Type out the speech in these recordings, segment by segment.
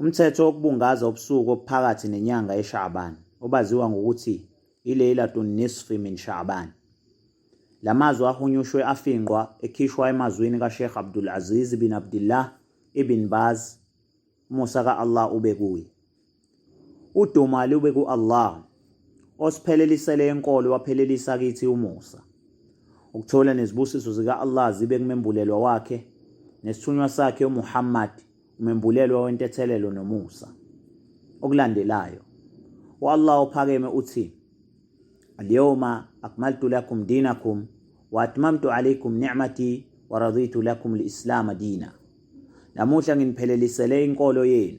Umthetho wokubungaza ubusuku obuphakathi nenyanga eSha'ban obaziwa ngokuthi iLeilatun Nisfi min Sha'ban. La mazwi ahunyushwe afingqwa ekhishwa emazwini kaSheikh Abdul Aziz bin Abdullah ibn Baz, umusa ka-Allah ube kuye. Udumo alube ku-Allah osiphelelisele enkolo waphelelisa kithi umusa. Ukuthola nezibusiso zika-Allah zibe kumembulelwa wakhe nesithunywa sakhe uMuhammad umembulelwa wentethelelo nomusa. Okulandelayo u-Allah ophakeme uthi Al-yawma akmaltu lakum dinakum wa atmamtu alaykum ni'mati wa raditu lakum al-islam dina. Namuhla nginiphelelelisele inkolo yenu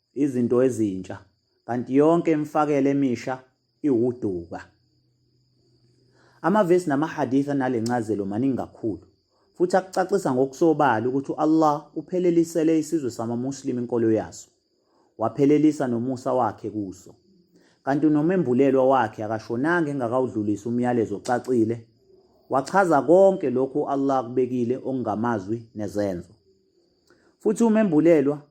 Izinto ezintsha, kanti yonke imfakela emisha iwuduka. Amavesi namahadith anale ncazelo maningi kakhulu, futhi akucacisa ngokusobala ukuthi u-Allah uphelelisele isizwe samaMuslim inkolo yaso, waphelelisa nomusa wakhe kuso. Kanti unomembulelwa wakhe akashonanga engakawudlulisi umyalezo ocacile, wachaza konke lokhu u-Allah akubekile okungamazwi nezenzo. Futhi umembulelwa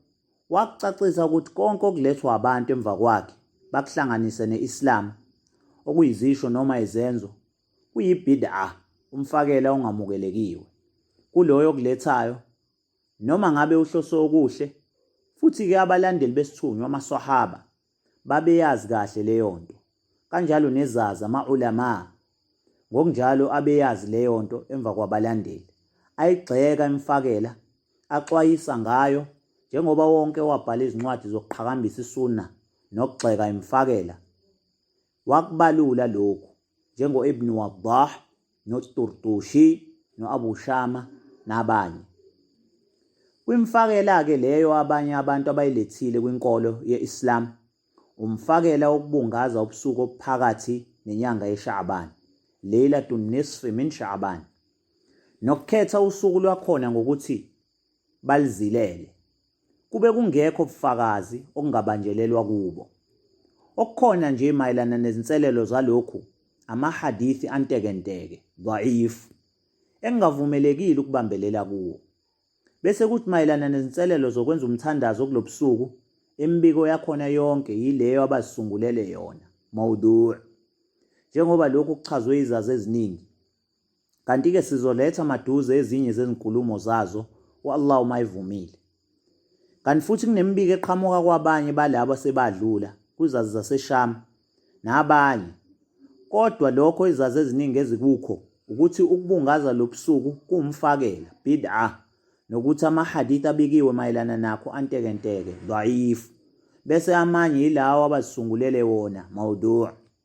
Wakucacisa ukuthi konke okulethwa abantu emva kwakhe bakuhlanganise ne-Islam, okuyizisho noma izenzo, kuyibid'ah, umfakela ongamukelekiwe, kuloyo okulethayo, noma ngabe uhlose okuhle, futhi-ke abalandeli besithunywa, amaswahaba, babeyazi kahle leyonto kanjalo nezazi ama-ulama ngokunjalo abeyazi leyonto emva kwabalandeli ayigxeka imfakela axwayisa ngayo njengoba wonke wabhala izincwadi zokuqhakambisa isunna nokugxeka imfakela Wakubalula lokhu njengo-Ibn Waddah noTurtushi no-Abu Shama nabanye. Kwimfakela-ke leyo abanye abantu abayilethile kwinkolo ye-Islam, umfakela wokubungaza ubusuku obuphakathi nenyanga yeSha'ban, Laylatun Nisfi min Sha'ban, nokukhetha usuku lwakhona ngokuthi balizilele. Kube kungekho ubufakazi okungabanjelelwa kubo. Okukhona nje mayelana nezinselelo zalokhu amahadithi antekenteke, dhaif, engingavumelekile ukubambelela kuwo. Bese kuthi mayelana nezinselelo zokwenza umthandazo kulobusuku, imibiko yakhona yonke yileyo abazisungulele yona, mawdu', njengoba lokhu kuchazwe izazi eziningi. Kanti-ke sizoletha maduze ezinye zezinkulumo zazo u-Allah uma evumile. Kanti futhi kunemibiko eqhamuka kwabanye balabo asebadlula kwizazi zaseSham nabanye. Kodwa lokho izazi eziningi ezikukho ukuthi ukubungaza lobusuku kuwumfakela, bid'ah, nokuthi amahadith abikiwe mayelana nakho antekenteke, dhaif, bese amanye yilawo abazisungulela wona, mawdu'.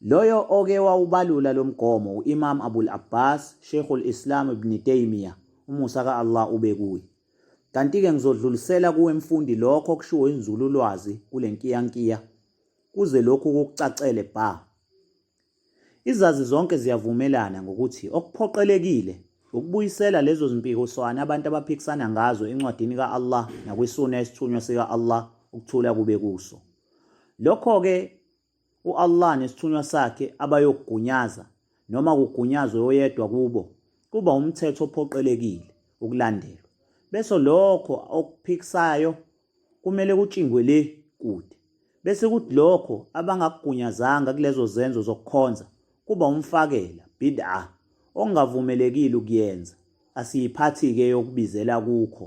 Loyo oke wawubalula lo mgomo u-Imam Abul Abbas, Sheikhul Islam Ibn Taymiyyah, umusa ka-Allah ube kuye. Kanti-ke ngizodlulisela kuwe mfundi lokho okushiwo inzululwazi kule nkiyankiya kuze lokhu kukucacele bha. Izazi zonke ziyavumelana ngokuthi okuphoqelekile ukubuyisela lezo zimpikiswano abantu abaphikisana ngazo encwadini ka-Allah nakwisunna yesithunywa sika-Allah ukuthula kube kuso. Lokho-ke u-Allah nesithunywa sakhe abayokugunyaza noma kugunyazwe oyedwa kubo kuba umthetho ophoqelekile ukulandelwa bese lokho okuphikisayo kumele kutshingwe le kude bese kuthi lokho abangakugunyazanga kulezo zenzo zokukhonza kuba umfakela bid'ah ongavumelekile ukuyenza asiyiphathi-ke yokubizela kukho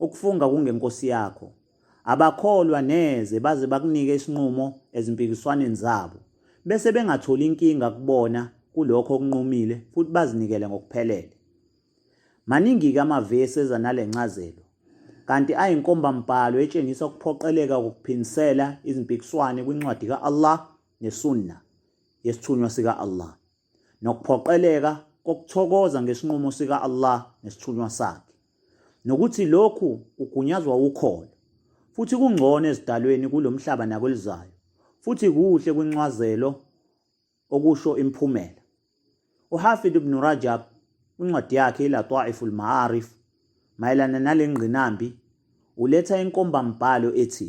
Ukufunga kungenkosi yakho. Abakholwa neze baze bakunike isinqumo ezimpikiswaneni zabo bese bengatholi inkinga kubona kulokho okunqumile futhi bazinikele ngokuphelele. Maningi-ke amavesi eza nale ncazelo, kanti ayinkombambhalo etshengisa ukuphoqeleka kokuphindisela izimpikiswane kwincwadi ka-Allah nesunna yesithunywa sika-Allah. nokuphoqeleka kokuthokoza ngesinqumo sika Allah nesithunywa sakhe nokuthi lokhu kugunyazwa ukholo futhi kungcono ezidalweni kulomhlaba nakwelizayo futhi kuhle kwincwazelo okusho imphumela uHafid ibn Rajab incwadi yakhe iLataiful Ma'arif mayelana nalengqinambi uletha inkombambhalo ethi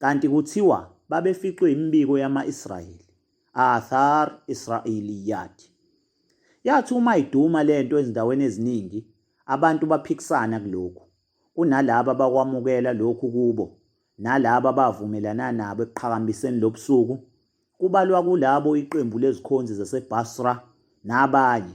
kanti kuthiwa babeficwe imibiko yama-Israyeli, Athar Israeliyat. Yathi uma iduma le nto ezindaweni eziningi, abantu baphikisana kulokhu, kunalaba abakwamukela lokhu kubo nalaba abavumelana nabo ekuqhakambiseni lobusuku, kubalwa kulabo iqembu lezikhonzi zaseBasra nabanye.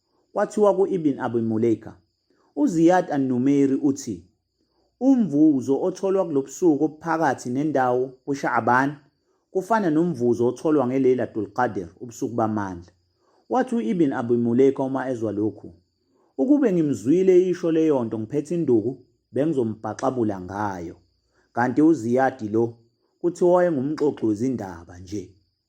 Kwathiwa ku-Ibn Abi Mulaika, uZiyad an-Numairi uthi, Umvuzo otholwa kulobusuku obuphakathi nendawo kuSha'aban kufana nomvuzo otholwa ngeLeilatul Qadr, ubusuku bamandla. Wathi u-Ibn Abi Mulaika uma ezwa lokhu, Ukube ngimzwile eyisho leyonto ngiphethe induku, bengizombhaxabula ngayo. Kanti uZiyadi lo, kuthiwa wayengumxoxi wezindaba nje.